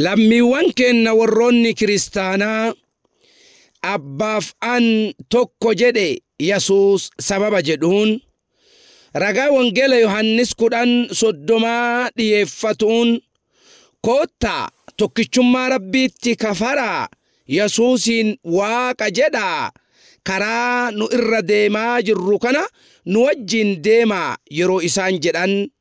Lammiiwwan keenna worroonni kiristaanaa Abbaaf an tokko jedhe Yasuus sababa jedhuun ragaa Wongeela Yohaannis 10 30 dhiyeeffatuun koottaa tokkichummaa Rabbiitti kafaraa Yasuusiin Waaqa jedhaa karaa nu irra deemaa jirru kana nu wajjiin deemaa yeroo isaan jedhan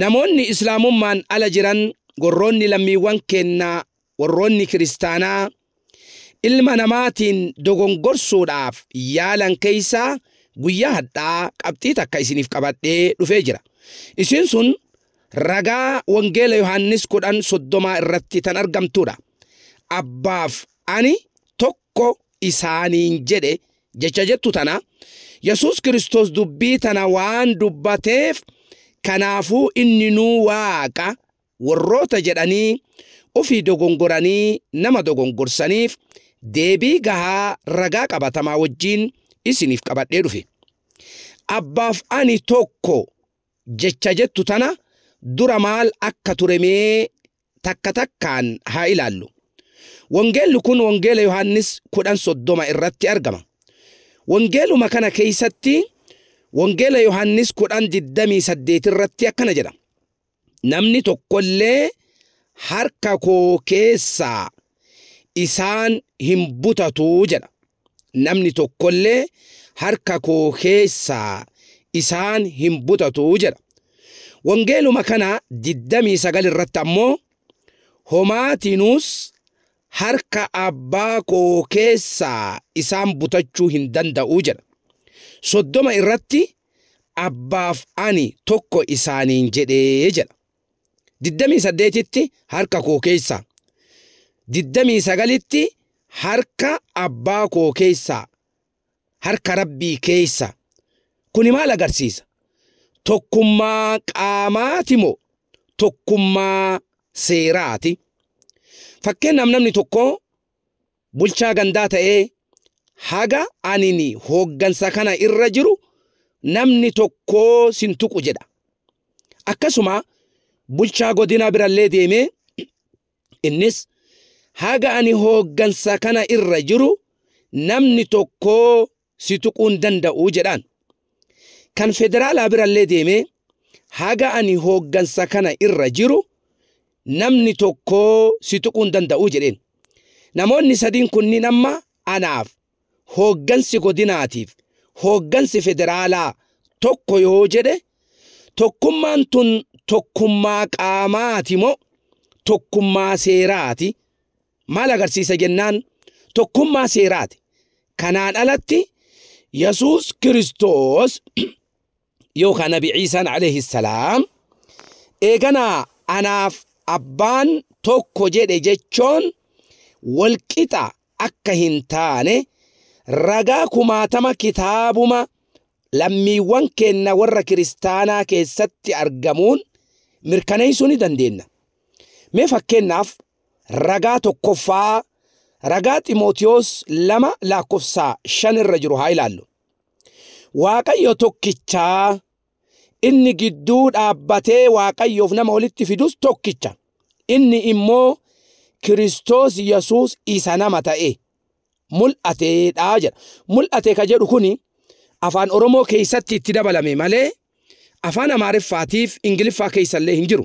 Namoonni Islaamummaan ala jiran warroonni lammiiwwan keennaa warroonni kiristaanaa ilma namaatiin dogongorsuudhaaf yaalan keessaa guyyaa hadhaa qabxii takka isiniif qabadhee dhufee jira. Isiin sun ragaa wangeela Yohaannis 10 30 irratti tan argamtuudha. Abbaaf ani tokko isaaniin jedhe jecha jettu tana Yesuus Kiristoos dubbii tana waan dubbateef kanaafuu inni nuu waaqa warroota jedhanii ofii dogongoranii nama dogongorsaniif deebii gahaa ragaa qabatamaa wajjiin isiniif qabadhee dhufe. Abbaaf ani tokko jecha jettu tana dura maal akka ture mee takka takkaan haa ilaallu. Wangeelli kun Wangeela Yohaannis 10:30 irratti argama. Wangeeluma kana keessatti Wangeela Yohaannis 10:28 irratti akkana jedha. Namni tokko illee harka koo keessaa isaan hin butatu jedha. namni tokkollee harka koo keessaa isaan hin butatu jedha. Wangeeluma kana 29 irratti ammoo homaatiinuus harka abbaa koo keessaa isaan butachuu hin danda'u jedha. Soddoma irratti abbaaf ani tokko isaaniin jedhee jedha. 28tti harka koo keessaa 29tti harka abbaa koo keessaa harka rabbii keessa kuni maal agarsiisa tokkummaa qaamaati moo tokkummaa seeraati fakkeenyaaf namni tokko bulchaa gandaa ta'ee haga anini hooggansa kana irra jiru namni tokkoo sin tuqu jedha. Akkasuma bulchaa godinaa birallee deemee innis haga ani hooggansa kana irra jiru namni tokkoo si tuquu hin danda'u jedhaan. Kan federaalaa birallee deemee haga ani hooggansa kana irra jiru namni tokko si tuquu hin danda'u jedheen. Namoonni sadiin kunniin amma anaaf hooggansi godinaatiif hooggansi federaalaa tokko yoo jedhe tokkummaan tun tokkummaa qaamaati moo tokkummaa seeraati maal agarsiisa jennaan tokkummaa seeraati. Kanaan alatti Yesuus Kiristoos yookaan Nabi Ciisaan alayhi salaam eeganaa anaaf abbaan tokko jedhe jechoon walqixa akka hin taane ragaa kumaatama kitaabuma lammiiwwan keenna warra kiristaanaa keessatti argamuun mirkaneessuu ni dandeenya. Mee fakkeenyaaf Ragaa tokkoffaa ragaa Ximootiyoos 2 laakkofsaa 5 irra jiru haa ilaallu. Waaqayyo tokkichaa inni gidduu dhaabbatee Waaqayyoof nama walitti fidus tokkicha. Inni immoo Kiristoos Yesuus isa nama ta'e mul'ateedha jedha. Mul'ate ka jedhu kuni afaan Oromoo keessatti itti dabalame malee afaan Amaariffaatiif Ingiliffaa keessallee hin jiru.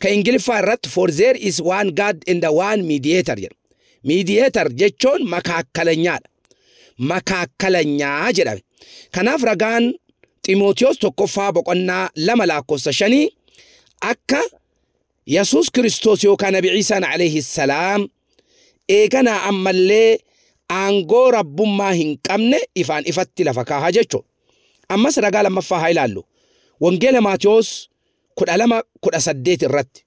Ka Ingiliffaa irratti for there is one God and one mediator jedha. Mediator jechuun makaakkalanyaadha. Makaakkalanyaa jedhame. Kanaaf ragaan Ximootiyoos tokkoffaa boqonnaa lama lakkoofsa shanii akka Yesuus Kiristoos yookaan Nabi Ciisaan alayhi salaam eeganaa ammallee aangoo rabbummaa hin qabne ifaan ifatti lafa kaaha jechuudha. Ammas ragaa lammaffaa haa ilaallu. Wangeela Maatiyoos 12, 18 irratti.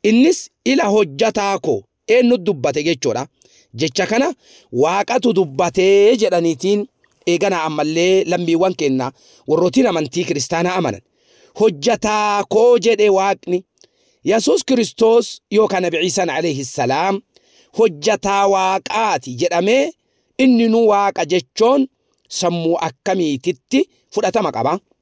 Innis ila hojjataa koo eenyutu dubbate jechuudha. Jecha kana waaqatu dubbatee jedhaniitiin eeganaa ammallee lammiiwwan keenya warrootiin amantii kiristaanaa amanan. Hojjataa koo jedhe waaqni. Yesuus Kiristoos yookaan Nabi Ciisaan alayhi salaam hojjataa waaqaati jedhamee inni nu waaqa jechoon sammuu akkamiititti fudhatama qaba?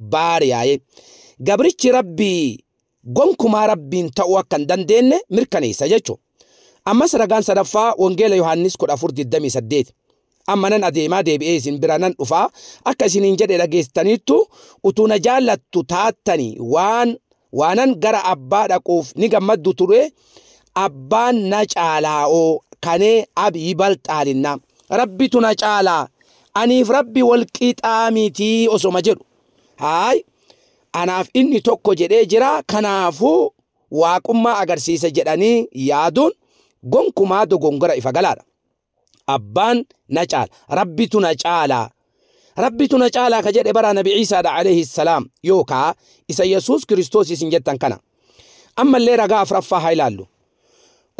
baariyaa'e. Gabrichi Rabbii gonkumaa Rabbiin ta'uu akka hin dandeenne mirkaneessa jechu. Ammas ragaan sadaffaa Wangeela Yohaannis 14:28. Amma nan adeemaa deebi'ee isin bira nan dhufaa akka isiniin jedhe dhageettaniittu utuu na jaallattu taattanii waan Waanan gara abbaa dhaquuf ni gammaddu ture, abbaan na caalaa'oo kanee ab yibalxaalinna. Rabbitu na caala, aniif Rabbi wal qixaa miti osoma jedhu. Haay, anaaf inni tokko jedhee jira, kanaafuu Waaqummaa agarsiisa jedhanii yaaduun gonkumaa dogongora ifa galaadha. abbaan na caala rabbitu na caala rabbitu na caala ka jedhe bara nabi ciisaadha alayhi salaam yookaa isa yesuus kiristoos isin jettan kana ammallee ragaa afraffaa haa ilaallu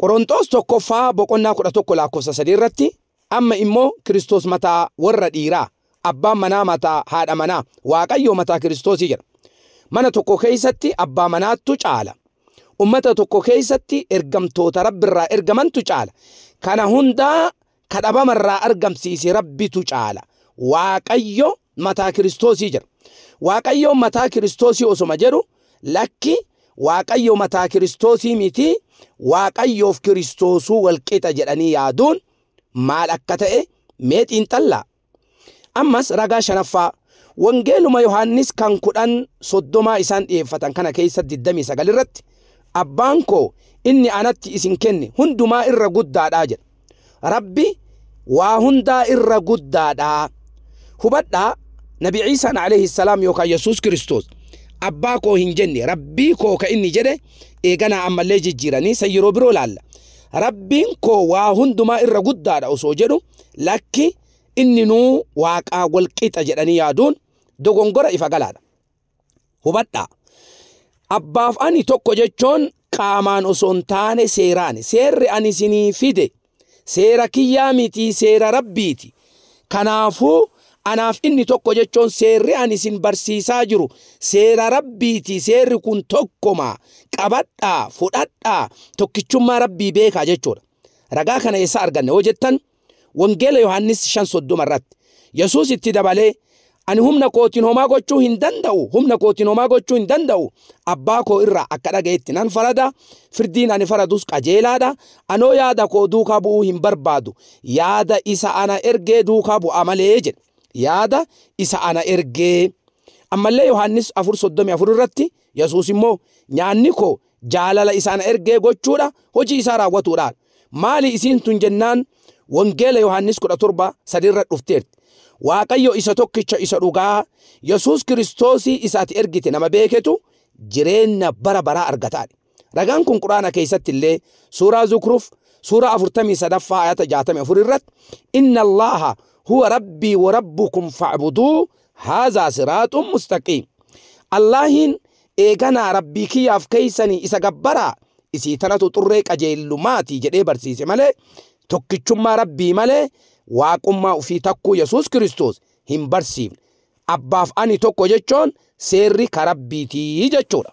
qoronxoos tokkoffaa boqonnaa kudha tokko lakkoofsa sadii irratti amma immoo kiristoos mataa warra dhiiraa abbaan manaa mataa haadha manaa waaqayyoo mataa kiristoosii jedha mana tokko keessatti abbaa manaattu caala Ummata tokko keessatti ergamtoota Rabbi irraa ergamantu caala. Kana hundaa ka dhabama irraa argamsiise Rabbitu caala. Waaqayyo mataa Kiristoosii jedha. Waaqayyo mataa Kiristoosii osoma jedhu lakki Waaqayyo mataa Kiristoosii miti Waaqayyoof Kiristoosuu walqixa jedhanii yaaduun maal akka ta'e mee xiinxallaa. Ammas ragaa shanaffaa Wangeeluma Yohaannis kan kudhan soddomaa isaan dhiyeeffatan kana keessa 29 irratti abbaan koo inni anatti isin kenne hundumaa irra guddaadhaa jedha. Rabbi waa hundaa irra guddaadhaa. Hubadhaa Nabi Ciisaan alayhi salaam yookaan Yesuus Kiristoos abbaa koo hin jenne rabbii koo ka inni jedhe eeganaa ammallee jijjiiranii san yeroo biroo laalla. Rabbiin koo waa hundumaa irra guddaadha osoo jedhu Lakki inninuu Waaqaa wal qixa jedhanii yaaduun dogongora ifa galaadha. Hubadhaa! Abbaaf ani tokko jechuun qaamaan osoo hin taane seeraani. Seerri ani isinii fide seera kiyyaa mitii seera Rabbiiti. Kanaafuu anaaf inni tokko jechuun seerri ani isin barsiisaa jiru seera Rabbiiti seerri kun tokkuma qabadhaa fudhadhaa tokkichummaa Rabbii beekaa jechuudha. Ragaa kana eessaa arganna yoo jettan, Wangeela Yohaannis 5:30 irratti Yesuus itti dabalee, Ani humna kootiin homaa gochuu hin danda'u, humna kootiin homaa gochuu hin danda'u, Abbaa koo irraa akka dhaga'etti nan farada, firdiin ani faradus qajeelaa dha, anoo yaada koo duukaa bu'uu hin barbaadu, yaada isa ana ergee duukaa bu'a malee jedhe. Yaada isa ana ergee. Ammallee Yohaannis 4:34 irratti Yesuus immoo, Nyaanni koo jaalala isa ana ergee gochuudha, hojii isaa raawwatuudha. Maali isiin tun jennaan Wangeela Yohaannis 17, 3 irra dhufteerti. Waaqayyo isa tokkicha isa dhugaa, Yesuus Kiristoosii isa ati ergite nama beeketu jireenya bara baraa argataadha. Ragaan kun Qur'aana keessatti illee suuraa Zukruf suuraa 43ffaa ayata 64 irratti Inna Allaaha huwa rabbii wa rabbukum fa'buduu haazaa siraaxun mustaqiim Allaahiin eeganaa rabbii kiyyaaf keeysanii isa gabbaraa isii tanatu xurree qajeellumaati jedhee barsiise malee tokkichummaa rabbii malee waaqummaa ufii takkuu yesuus kiristoos hin barsiifne abbaaf ani tokko jechoon seerri ka rabbiitii jechuudha